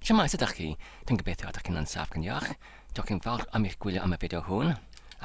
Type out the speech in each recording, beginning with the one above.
Shwmae, sut ydach chi? Dwi'n gobeithio ydych chi'n ansaf gan iach. Diolch yn fawr am eich gwylio am y fideo hwn.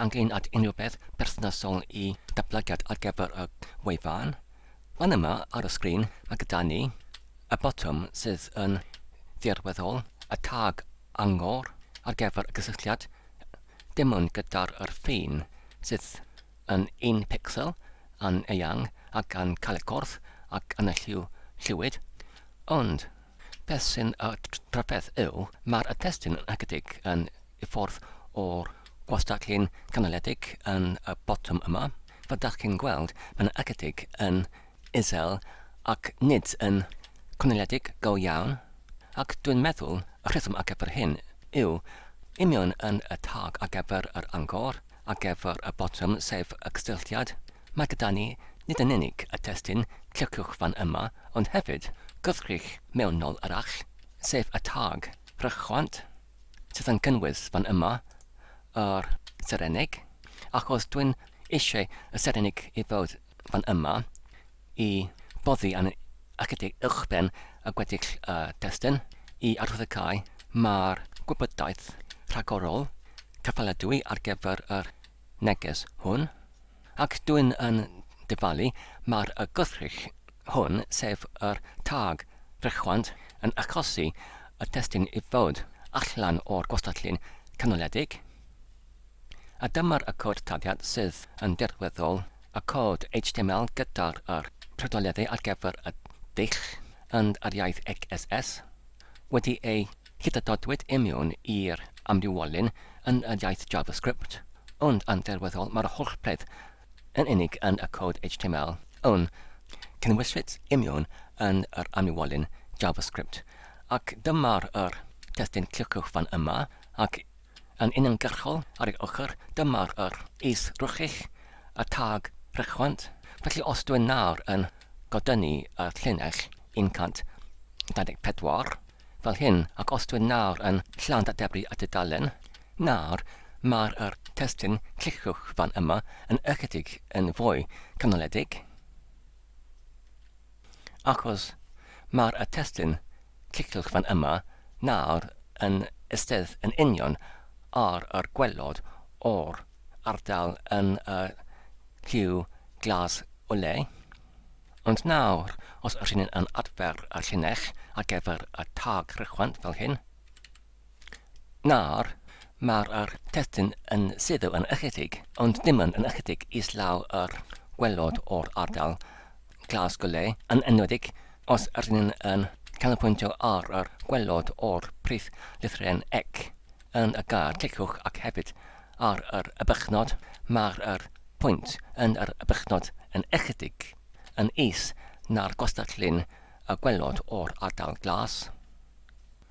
Angen at unrhyw beth berthnasol i datblygiad ar gyfer y wefan? Fan yma ar y sgrin mae gyda ni y botwm sydd yn ddirweddol, y tag angor ar gyfer y gysylltiad, dim ond gyda'r yr ffin sydd yn un picsel, yn eang ac yn cael y corff ac yn y lliw lliwyd, ond beth sy'n y rhyfedd yw, mae'r testun yn ychydig yn i ffwrdd o'r gwastatlun canoledig yn y botwm yma, fel dach chi'n gweld mae'n ychydig yn isel ac nid yn cynaliedig go iawn, ac dwi'n meddwl y rheswm ar gyfer hyn yw union yn y tag ar gyfer yr angor, Ar gyfer y botwm sef y cysylltiad, mae gyda ni nid yn unig y testun cliciwch fan yma ond hefyd gwrthrych mewnol arall, sef y tag rhychwant sydd yn cynnwys fan yma yr Serennig, ac os dwi'n eisiau y Serennig i fod fan yma, i boddi yn ychydig uwchben y gweddill destun, i arddegau mae'r gwybodaeth rhagorol cyfaledwy ar gyfer yr neges hwn, ac dwyn yn dyfalu mae'r gwrthrych hwn, sef yr tag frechwant, yn achosi y testun i fod allan o'r gwastatlun canoledig. A dyma'r Accord Taliad sydd yn dirweddol, Accord HTML gyda'r yr Trydoleddu ar gyfer y dull and yr iaith XSS, wedi ei hydadodwyd i mewn i'r amrywiolyn yn yr iaith JavaScript, ond yn dirweddol mae'r holl peth yn unig yn Accord HTML yn cynnwyswyd i mewn yn yr amrywiolyn JavaScript. Ac dyma'r yr testun cliciwch fan yma ac Yn uniongyrchol ar ei ochr dyma'r yr is rwchig a thag rhychwant, felly os dwi'n nawr yn godynnu y llinell 124 fel hyn ac os dwi'n nawr yn llanddadebru y dudalen, nawr mae'r yr testun cliciwch fan yma yn ychydig yn fwy canoledig. Achos mae'r y testun, cliciwch fan yma nawr, yn eistedd yn union ar yr gwaelod o'r ardal yn y lliw glas o le. Ond nawr, os ydyn yn adfer y llinell ar gyfer y tag rhychwant fel hyn, Nawr, mae'r yr testun yn suddo yn ychydig, ond dim ond yn ychydig, islaw yr gwaelod o'r ardal glas gole, yn enwedig os ydyn ni'n yn canolpwyntio ar yr gwaelod o'r prif lythren ec yn y gair cliciwch ac hefyd ar yr y bychnod, mae'r yr pwynt yn yr y bychnod yn ychydig yn is na'r gwastatlun y gwaelod o'r ardal glas.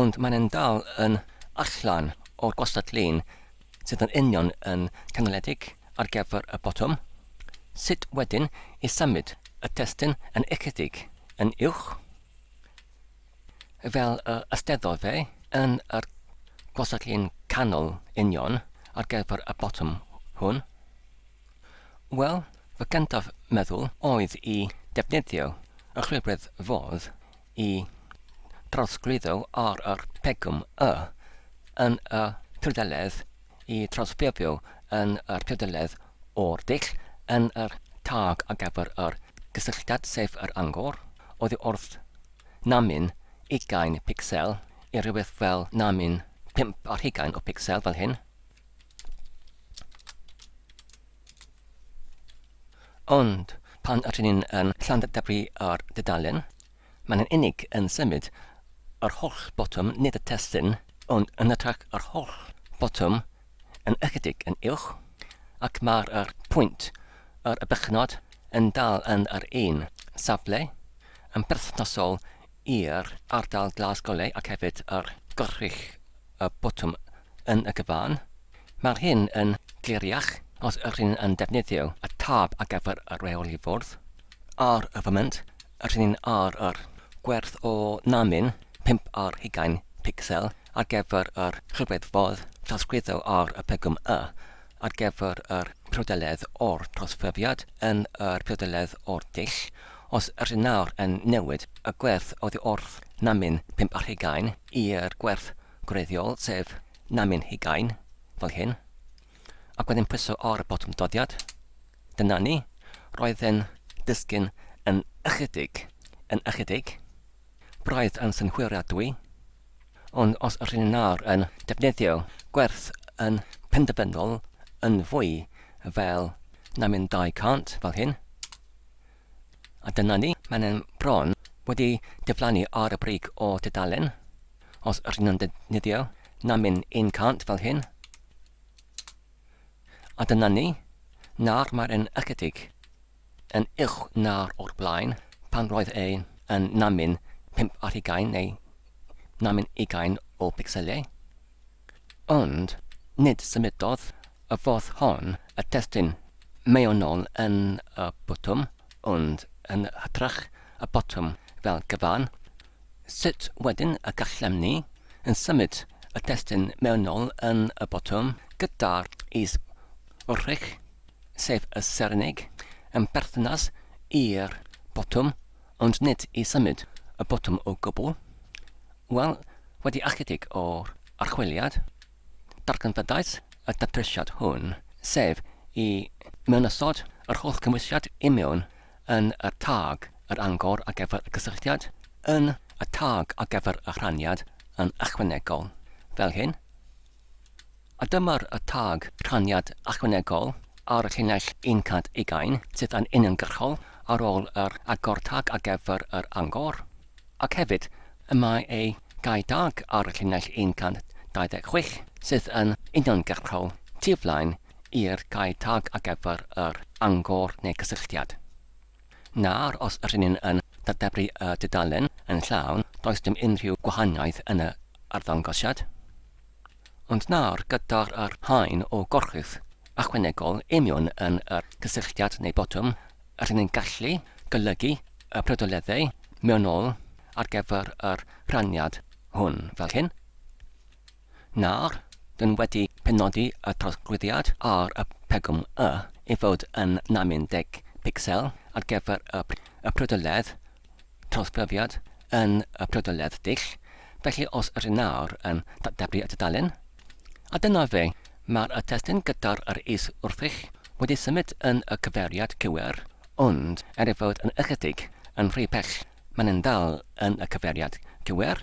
Ond maen nhw'n dal yn allan o'r gwastatlun sydd yn union yn canaliedig ar gyfer y botwm. Sut wedyn i symud y testun yn ychydig yn uwch? Fel y ysteddodd fe, yn yr gwastatlun canol union ar gyfer y botwm hwn? Wel, fy gyntaf meddwl oedd i defnyddio y chwilfredd fodd y trosglwyddo ar yr pegwn Y yn y pudaledd i drosbefio yn yr pudaledd o'r dull yn yr tag ar gyfer yr gysylltiad sef yr angor oddi wrth namyn ugain picsel i rywbeth fel namyn pump ar hugain o picsel fel hyn. Ond pan ydyn ni'n um, Llandybri ar dudalen, mae'n yn unig yn symud yr holl botwm, nid y testun, ond yn hytrach yr holl botwm yn ychydig yn uwch, ac mae'r er, pwynt yr er bychnod yn dal yn yr un safle yn berthnasol i'r ardal glas golau ac hefyd ar Gorchudd y Botwm yn y cyfan. Mae'r hyn yn gliriach os yr hyn yn defnyddio y tab ar gyfer y rheoli fwrdd. Ar y foment, yr hyn yn ar yr gwerth o namin 5 ar hugain picsel ar gyfer yr rhywedd fodd trawsgwyddo ar y pegwm Y ar gyfer yr priodoledd o'r trosfyriad yn yr priodoledd o'r dull, os ydyn nawr yn newid y gwerth oddi wrth namin pump ar hugain i'r gwerth gwreiddiol sef namin hugain, fel hyn, ac wedyn pwyso ar y botwm doddiad. Dyna ni. Roedd e'n disgyn yn ychydig, yn ychydig. Braidd yn synhwyriadwy. Ond os rŷn ni nawr yn defnyddio gwerth yn penderfynol yn fwy fel na mynd 200 fel hyn, a dyna ni, mae'n e'n bron wedi diflannu ar y brig o dudalen, os rŷn ni'n defnyddio na mynd 100 fel hyn, a dyna ni, nawr mae'n e'n ychydig yn uwch na'r o'r blaen, pan roedd e yn namin pump ar hugain neu namin ugain o bicselau. Ond nid symudodd y ffordd hon y testun mewnol yn y botwm, ond yn hytrach y botwm fel cyfan. Sut wedyn y gallem ni yn symud y testun mewnol yn y botwm gyda'r is-wrthrych? sef y Sereneg, yn berthynas i'r botwm, ond nid i symud y botwm o gwbl. Wel, wedi ychydig o archwiliad, darganfyddais y datrysiad hwn, sef i mewnysod yr holl gymwysiad i mewn yn y tâg yr angor ar gyfer y cysylltiad, yn y tâg ar gyfer y rhaniad yn ychwanegol, fel hyn. A dyma'r y tag rhaniad ychwanegol ar y llinell 120 sydd yn uniongyrchol ar ôl yr agor tag ar gyfer yr angor, ac hefyd y mae ei gau tag ar y llinell 126 sydd yn uniongyrchol tu flaen i'r gau tag ar gyfer yr angor neu gysylltiad. Nawr, os rŷn ni'n yn dadeblu y dudalen yn llawn, does dim unrhyw gwahaniaeth yn yr arddangosiad. Ond nawr, gyda'r yr haen o gorchudd ychwanegol union yn yr cysylltiad neu botwm, rŷn ni'n gallu golygu y prydoleddau mewnol ar gyfer yr rhaniad hwn fel hyn. Nawr, dyn wedi penodi y trosglwyddiad ar y pegwn Y i fod yn 90 picsel ar gyfer y prydoledd trawsglyfiad yn y prydoledd dull, felly os ydyn nawr yn datblygu y tudalen, a dyna fe, mae'r y testun gyda'r yr is wrthych wedi symud yn y cyfeiriad cywir, ond er ei fod yn ychydig yn rhy bell mae'n yn dal yn y cyfeiriad cywir.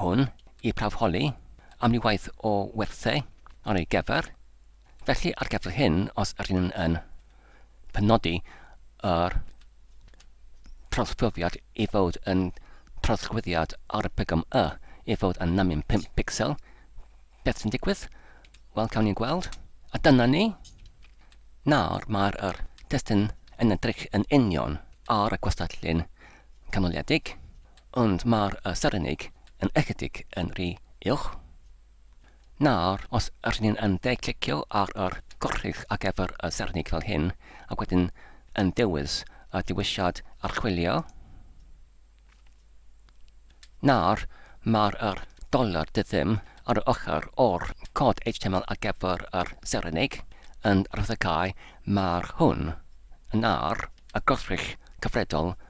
hwn i prawf holi am ryw waith o werthau ar ei gyfer, felly ar gyfer hyn os yr hyn yn penodi yr trawsgrifiad i fod yn trawsgrifiad RPGM Y i fod yn namyn 5 pixel, beth sy'n digwydd? Wel, cawn ni gweld. A dyna ni. Nawr mae'r yr testun yn edrych yn union ar y gwastatlun canoliedig. Ond mae'r Serennig yn ychydig yn rhy uwch. Nawr, os ydyn ni'n yn deg clicio ar yr gwrthrych ar gyfer y Serennig fel hyn, ac wedyn yn dewis y dewisiad archwilio, nawr mae'r yr dollar dyddym ar yr ochr o'r cod HTML ar gyfer yr Serennig yn rhyddhau mae'r hwn yn ar y gwrthrych cyfredol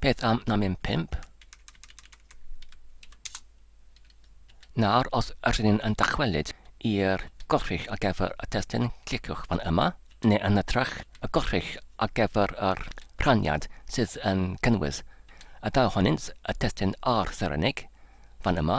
Beth am na mynd pump? Nawr, os ydyn ni'n yn dychwelyd i'r gorchull ar gyfer y testun, cliciwch fan yma, neu yn ytrach, y gorchull ar gyfer yr rhaniad sydd yn cynnwys y daw honynt, y testun a'r Serenig, fan yma.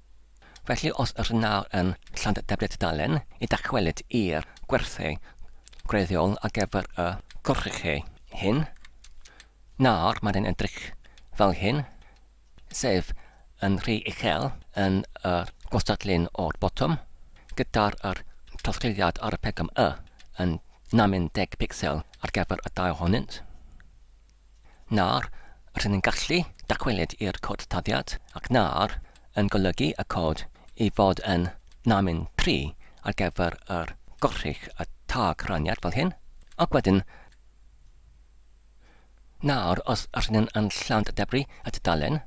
Felly os ydych nawr yn Llanddebbie Tudalen i dachwelyd i'r gwerthu gwreiddiol ar gyfer y cwrchau hyn, nawr mae'n edrych fel hyn, sef yn rhy uchel yn y gwastadlun o'r botwm, gyda'r yr trawsgludiad ar y pegom Y yn 60 picsel ar gyfer y dau ohonynt. Na'r, rydyn yn gallu dychwelyd i'r cod taddiad, ac na'r, yn golygu y cod i fod yn namin tri ar gyfer yr gorchudd y tag raniad fel hyn, ac wedyn na'r os rydyn yn llant debri y tudalen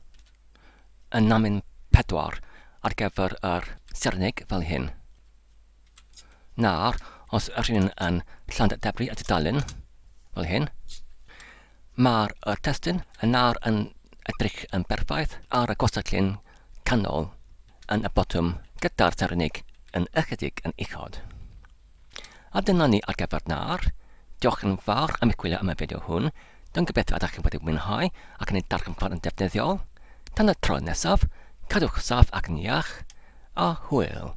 yn namin pedwar ar gyfer yr serneg fel hyn. Nawr, os ydych chi'n yn Llanydebri y tudalen, fel hyn, mae'r y testyn yn nawr yn edrych yn berffaith ar y gwastatlun canol yn y botwm gyda'r ternig yn ychydig yn uchod. A dyna ni ar gyfer nawr. Diolch yn fawr am eich gwylio am y fideo hwn. Dwi'n gobeithio y dach chi'n wedi mwynhau ac yn ei darganfod yn defnyddiol. Tan y tro nesaf, cadwch saff ac yn iach, a hwyl!